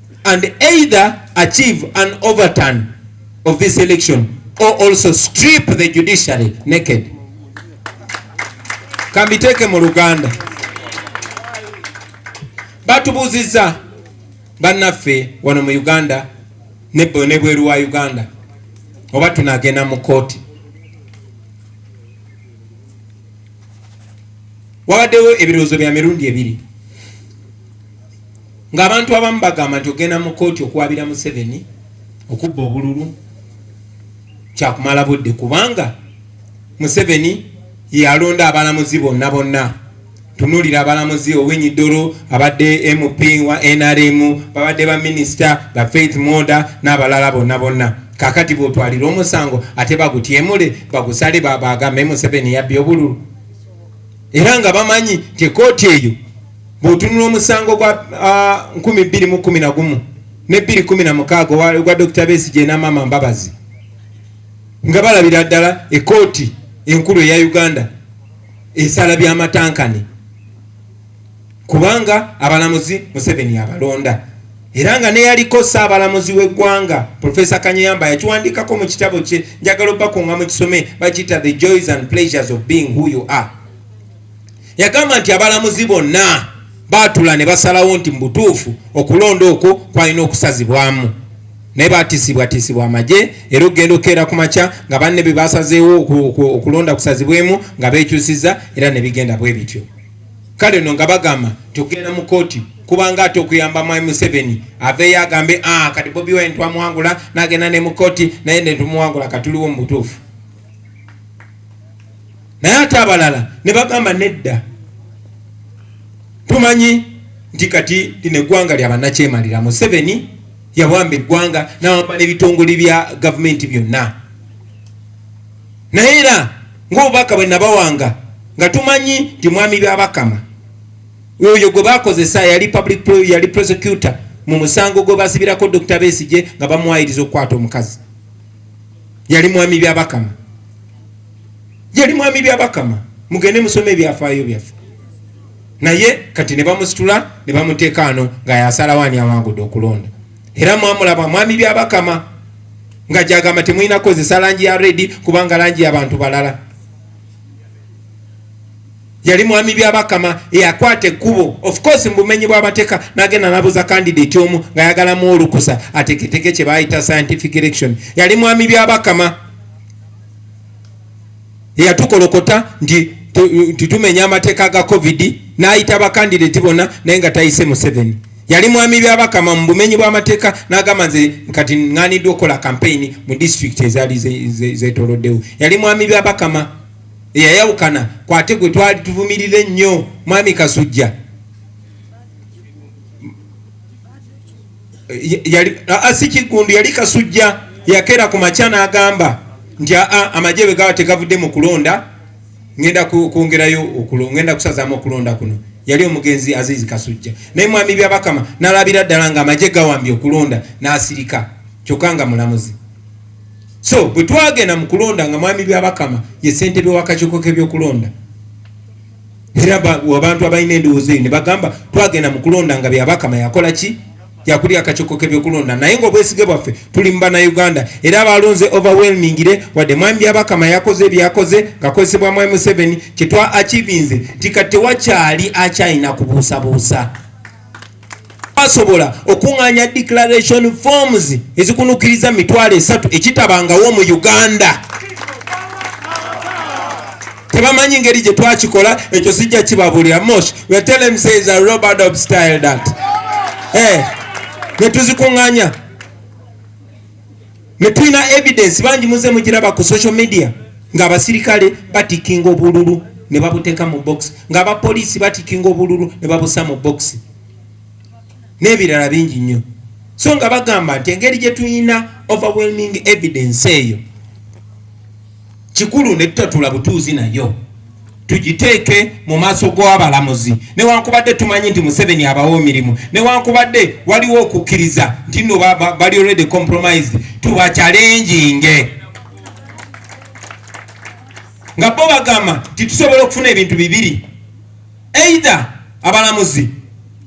and either achieve an overturn of this election or also strip the judiciary naked kambiteeke mu luganda batubuuzizza bannaffe wano mu uganda nebweru wa uganda oba tunagenda mu kooti wabaddewo ebirowoozo bya mirundi ebiri ng'abantu abamu bagamba nti ogenda mu kkooti okuwabira museveni okubba obululu kyakumala budde kubanga museveni yeyalonda abalamuzi bonna bonna tunulira abalamuzi owinyi dolo abadde mp wa nrm babadde baminisita ba faith moda n'abalala bonna bonna kakati bwotwalira omusango ate bagutyemule bagusale babagambe museveni yabbye obululu era nga bamanyi nti ekooti eyo Bw'otunula omusango gwa uh, nkumi bbiri mu kumi na gumu ne bbiri kumi na mukaaga ogwa Dokita Besigye na Maama Mbabazi nga balabira ddala ekooti enkulu eya Uganda esala byamatankane kubanga abalamuzi Museveni abalonda era nga neyaliko saabalamuzi w'eggwanga Profesa Kanyeyamba yakiwandiikako mu kitabo kye njagala obakunga mu kisome bakiyita the joys and pleasures of being who you are yagamba nti abalamuzi bonna baatula ne basalawo nti mu butuufu okulonda okwo kwalina okusazibwamu naye batiisibwatiisibwa amagye era okugenda okukeera ku makya nga banne be basazeewo okulonda kusazibwemu nga beekyusiza era ne bigenda bwe bityo kale no nga bagamba nti okugenda mu kooti kubanga ate okuyamba mwami museveni aveeyo agambe ah, kati bobi wine twamuwangula nagenda ne mu kooti naye netumuwangula katuliwo mu butuufu naye ate abalala ne bagamba nedda tumanyi nti kati lino eggwanga lya bannakyemalira museveni yawamba eggwanga nawamba n'ebitongole bya gavumenti byonna naye era ngaobubaka bwe nabawanga nga tumanyi nti mwami byabakama oyo gwe bakozesa yali public yali prosecutor mu musango gwe basibirako dr besije nga bamuwayiriza okukwata omukazi yali mwami byabakama yali mwami byabakama mugende musome ebyafaayo byaffe naye kati ne bamusitula ne bamuteeka ano nga yasalawo ani awangudde okulonda era mwamulaba mwami byabakama nga gyagamba temulina kukozesa langi ya redi kubanga langi yabantu balala yali mwami byabakama eyakwata ekkubo of course mu bumenyi bw'amateeka n'agenda n'abuuza kandidate omu ng'ayagalamu olukusa ateketeke kye baayita scientific election yali mwami byabakama eyatukolokota nti nti tumenya amateeka ga covid n'ayita bakandidate bonna naye nga tayise museveni yali mwami byabakama mu bumenyi bw'amateeka n'agamba nze kati ŋŋaaniddwa okukola kampeyini mu disitulikiti ezaali zetoloddewo yali mwami byabakama eyayawukana kwate gwe twali tuvumirira ennyo mwami kasujja si kiggundu yali kasujja yakera ku makya n'agamba nti aa amagye bwe gaba tegavudde mu kulonda ngenda kwongerayo ngenda kusazaamu okulonda kuno yali omugenzi azizi kasujja naye mwami byabakama nalabira ddala nga amagye gawambye okulonda n'asirika kyokka nga mulamuzi so bwe twagenda mu kulonda nga mwami byabakama ye ssentebe wakakiiko k'ebyokulonda era abantu abalina endowooza eyo ne bagamba twagenda mu kulonda nga byabakama yakola ki yakuli akakiiko k'ebyokulonda naye ngaobwesige bwaffe tuli mu banauganda era abalonze overwhelmingire wadde mwami byabakama yakoze ebyakoze ngakozesebwa mwami museveni kyetwa akivinze nti kati tewakyali akyalina kubuusabuusa basobola okunganya declaration forms ezikunukiriza mitwalo esatu ekitabangawo mu uganda tebamanyi ngeri gye twakikola ekyo sijja kibabulira mosh wetelemseza robert of style dat eh, netuzikunganya Netulina evidence bangi muze mugiraba ku social media nga abasirikale batikinga obululu ne babuteeka mu box nga abapoliisi batikinga obululu ne babusa mu box n'ebirala bingi nnyo so nga bagamba nti engeri gye tulina overwhelming evidence eyo kikulu ne tutatula butuuzi nayo tugiteeke mu maaso gw'abalamuzi newankubadde tumanyi nti museveni abawa emirimu newankubadde waliwo okukkiriza nti no bali already compromised tubakyalenjinge nga bo bagamba nti tusobola okufuna ebintu bibiri either abalamuzi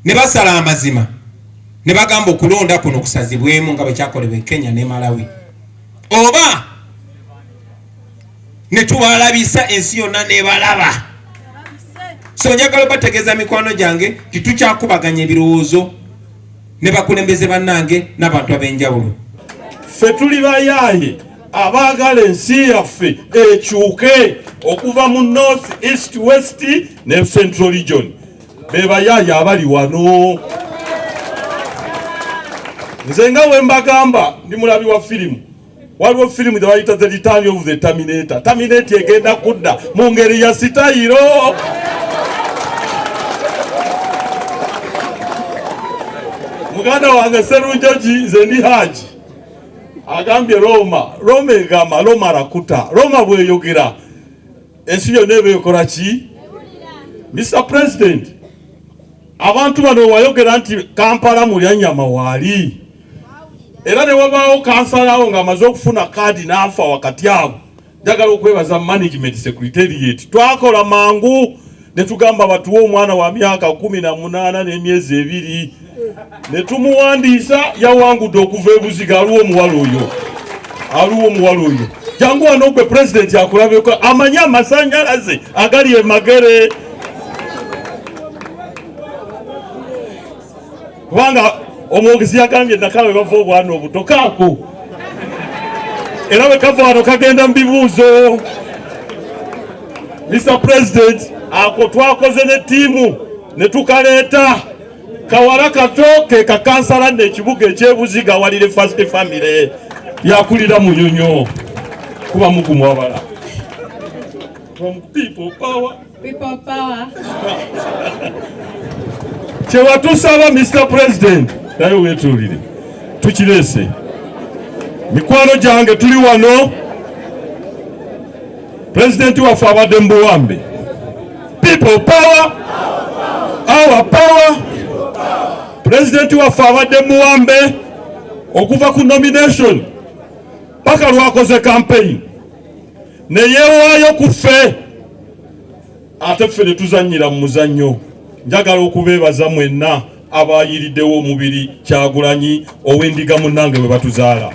ne basala amazima ne bagamba okulonda kuno kusazibwemu nga bwekyakolebwa e kenya ne malawi oba netubalabisa ensi yonna nebalaba so njagala obategeeza mikwano gyange titukyakubaganya ebirowoozo ne bakulembeze bannange n'abantu ab'enjawulo ffe tuli bayaaye abaagala ensi yaffe ekyuke okuva mu north east west ne central region bebayaaye abali wano nze nga wembagamba ndi mulabi wa firimu waliwo firimu zebayita the return of the terminator terminate egenda kudda mu ngeri ya sitayiro muganda wange serunjoji nze ndi haji agambye roma roma egamba roma rakuta roma bweyogera ensi yonna eba ekola ki Mr President abantu bano wayogera nti Kampala mulyanyama waali era ne wabaawo kansalawo ng'amaze okufuna kaadi n'afa wakati awo njagala okwebaza management secretariat twakola mangu ne tugamba batuwe omwana wa myaka kumi na munaana n'emyezi ebiri ne tumuwandiisa yawangudde okuva ebuziga aliwo omuwala oyo aliwo omuwala oyo jangu wano gwe pulezidenti akulabeko amanye amasanyalaze agali emagere kubanga omwogezi yagambye nakawe bava obwana obuto kaako era bwe kava wano kagenda mu bibuuzo mr president ako twakoze ne ttiimu ne tukaleeta Kawala kato ke kakansala nno ekibuga ekyebuziga walire first family yakulira munyonyo kuba mugumu wabala from people power people power kyewatusaba Mr President naye wetuulire tukirese mikwano gyange tuli wano Pulezidenti waffe abadde mu buwambe. People power, our power. Pulezidenti waffe abadde mu buwambe okuva ku nomination paka lwakoze kampeyini ne yeewaayo ku ffe ate ffe ne tuzannyira mu muzannyo njagala okubeebaza mwenna abayiriddewo omubiri kyagulanyi ow'endiga munnange bwe batuzaala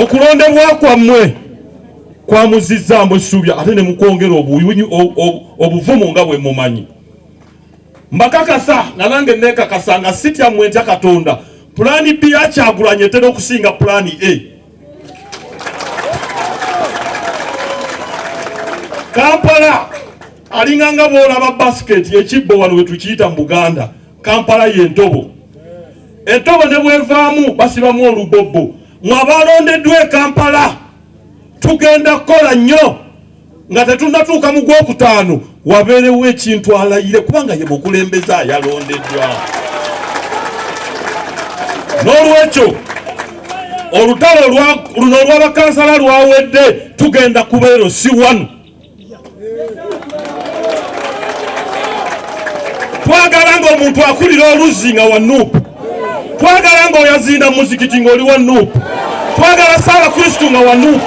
okulondebwa kwammwe kwamuzizzaamu essuubya ate ne mukwongera obuvumu nga bwe mumanyi mbakakasa nga nange neekakasa nga sitya mmwe ntya katonda pulaani b yakyagulanye etera okusinga pulaani a kampala alinga nga bwolaba basiketi ekibbo wano wetukiyita mu buganda kampala yentobo entobo ne bwevaamu basibamu olubobbo mwabalondeddwa e kampala tugenda kukola nnyo nga tetunnatuuka mu gwokutaano wabeerewo ekintu alayire kubanga ye mukulembeze ayalondeddwa n'olwekyo olutalo luno olw'abakansala lwawedde tugenda kubeero si wanu twagala ng'omuntu akulira oluzzi nga wanuupu twagala nga oyazinda muzikiti nga oli wa nup twagala saala kristu nga wa nup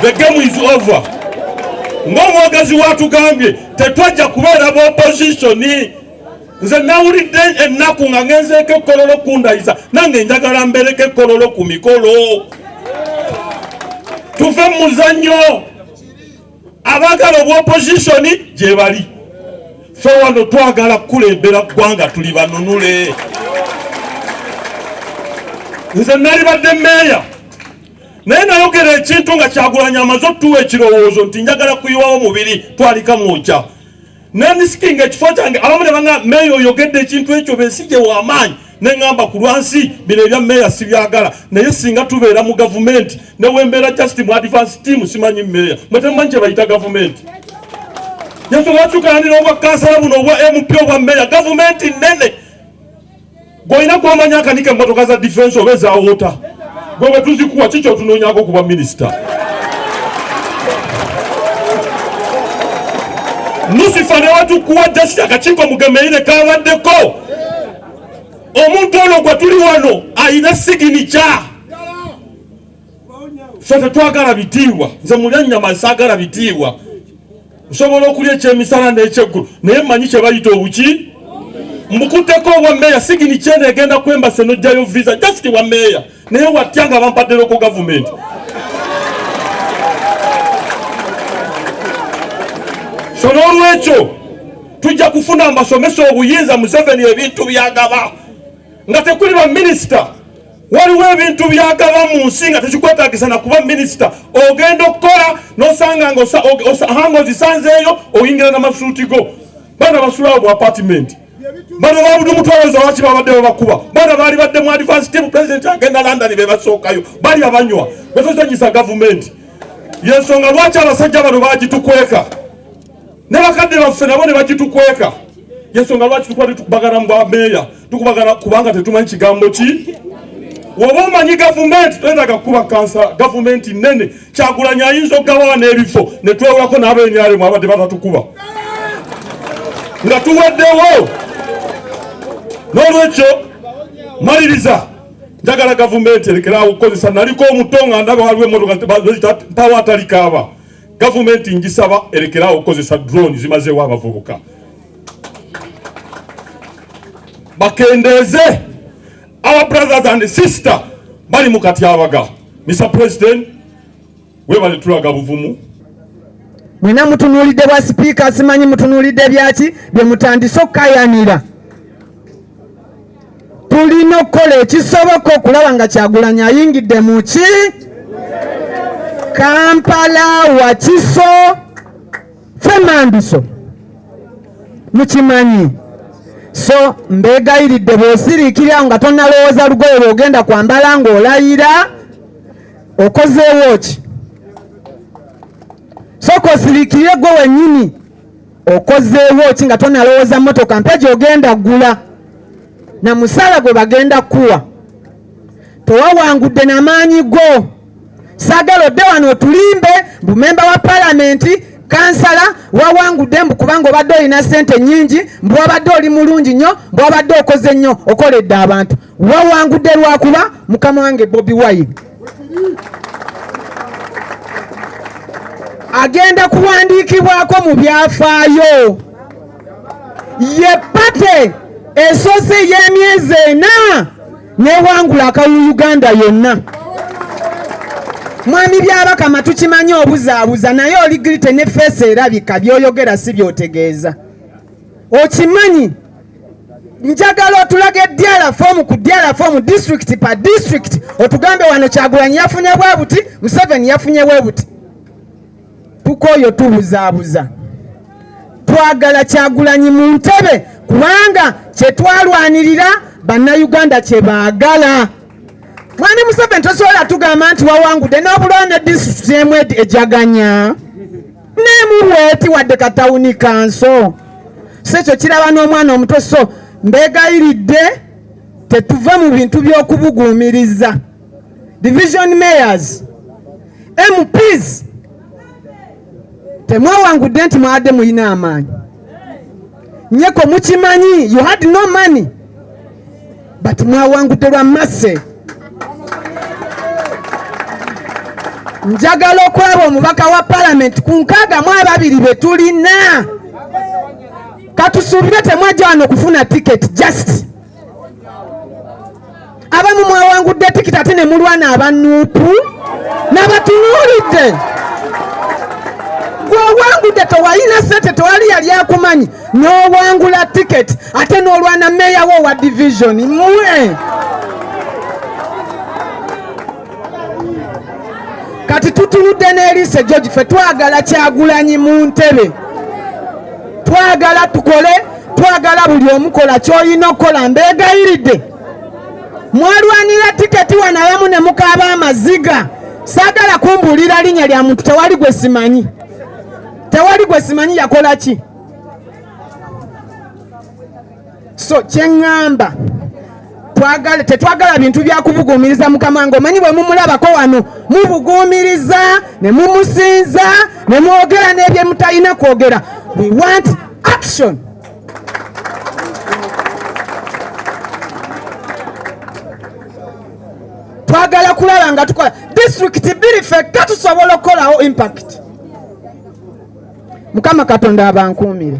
the game is over ng'omwogezi watugambye tetwajja kubeera ba oppositioni nze nawulidde ennaku nga ngenzeeko ekkololo kundayiza nange njagala mbereko ekkololo ku mikolo tuve mu muzannyo abagala obwa opposition gyebali fe wano twagala kukulembera ggwanga tuli banunule nze nali badde meeya naye nayogera ekintu nga kyagulanya amaze otuwa ekirowoozo nti njagala kuyiwawo mubiri twalika mwokya nandisikinga ekifo kyange abamu ne banga meeya oyogedde ekintu ekyo besije wamaanyi neŋamba ku lwansi bino ebya meeya sibyagala naye singa tubeera mu gavumenti newembeera just mu advance team simanyi meeya mwetemumanyi kyebayita gavumenti yetubatukanira obwa kansala buno obwa mp obwa meeya gavumenti nene gwolina gwomanya akanika emotoka za defense oba ezawota gwe bwetuzikuwa kikyo otunonyako kuba minisita lusifa newatukuwa just akakiiko mugemeire kabaddeko omuntu ono gwe tuli wano alina siginica ffe tetwagala bitiibwa nze mulya nnyama saagala bitiibwa nsobola okulya ekyemisana n'ekyeggulu naye mmanyi kye bayita obuki mbukutteko obwa meeya sigini kyene egenda kwembase n'ojjayo visa just wa meeya naye watya nga bampadderoko gavumenti so n'olwekyo tujja kufuna mbasomesa obuyinza museveni ebintu byagaba nga tekuli baminisita waliwo ebintu byagaba mu nsi nga tekikwetagisa na kuba minisita ogenda okukola nosanga nga hanga ozisanzeeyo oyingira namasuuti go bana basulawo bu apatimenti bano babudu mutwaloza waki babadde babakuba bana baali badde mu advance team president agenda london bebasookayo bali abanywa betozanyisa gavumenti yensonga lwaki abasajja bano bagitukweka ne bakadde baffe nabo ne bagitukweka yensonga lwaki tukuba tetukubagana mu bwameeya tukubagana kubanga tetumanyi kigambo ki woba omanyi gavumenti twetaga kukuba kansa gavumenti nene kyagulanyi ayinza okugabawa n'ebifo netwewulako n'abenyaremu abadde batatukuba nga tuweddewo n'olwekyo maliriza njagala gavumenti erekeraawo okukozesa naliko omuto nga ndaba waliwo emotoka pawa atalikaaba Gavumenti ngisaba erekeraawo okukozesa drone zimazeewo abavubuka bakendeeze our brothers and sister bali mu katyabaga. Mr President, webale tulaga buvumu mwena mutunuulidde bwa sipiika simanyi mutunuulidde byaki bye mutandise okukayanira tulina okukola ekisoboka okulaba nga kyagulanyi ayingidde mu ki kampala wakiso femandiso mukimanyi so mbegayiridde bwosiriikirira nga tonalowooza lugoye lwogenda kwambala ng'olayira okozeewo ki soka osiriikirire gwe wennyini okozeewo ki nga tonalowooza motoka mpya gyogenda gula na musaala gwe bagenda kuwa tewawangudde na maanyi go saagala odde wano otulimbe bumemba wa palamenti kansala wawangudde mbu kubanga obadde olina sente nyingi mbu wabadde oli mulungi nnyo mbu wabadde okoze nnyo okoledde abantu wawangudde lwakuba mukama wange bobi wine agenda kuwandiikibwako mu byafaayo ye pate esoose ey'emyezi ena newangula akalulu uganda yonna mwami byabakama tukimanyi obuzaabuza naye oli girite ne feesi erabika byoyogera si byotegeeza okimanyi njagala otulaga edyala fomu ku dyala fomu disitulikiti pa disitulikiti otugambe wano kyagulanyi yafunye bwe buti museveni yafunye bwe buti tukooyo tubuzaabuza twagala kyagulanyi mu ntebe kubanga kyetwalwanirira bannayuganda kye baagala mwani museveni tosobola tugamba nti wawangudde n'obulwana disitulikiti emu ejaganya nemuweeti wadde katawuni kanso sekyo kiraba n'omwana omuto so mbegayiridde tetuve mu bintu by'okubuguumiriza division mayors mps temwewangudde nti mwabadde mulina amaanyi nyeko mukimanyi you had no money but mwawangudde lwa masse njagala okulaba omubaka wa palamenti ku nkaaga mu ababiri be tulina katusuubire temwajja wano okufuna tiketi just abamu mwawangudde tikiti ate ne mulwana abanuupu nabatunuulidde gwewangudde tewalina sente tewali yali akumanyi n'owangula tiketi ate n'olwana meeya wo wa divisioni mwe kati tutunudde n'eriise george fe twagala kyagulanyi mu ntebe twagala tukole twagala buli omukola kyolina okukola mbeegayiridde mwalwanira tiketi wanawamu ne mukaaba amaziga saagala kumbuulira linnya lya muntu tewali gwe simanyi tewali gwe simanyi yakola ki so kyeŋŋamba twagala tetwagala bintu byakubuguumiriza mukama nga omanyi bwe mumulabako wano mubuguumiriza ne mumusinza ne mwogera n'ebye mutalina kwogera we want action twagala kulaba nga tukola disitulikiti bbiri fekka tusobola okukolawo impact mukama katonda abankuumire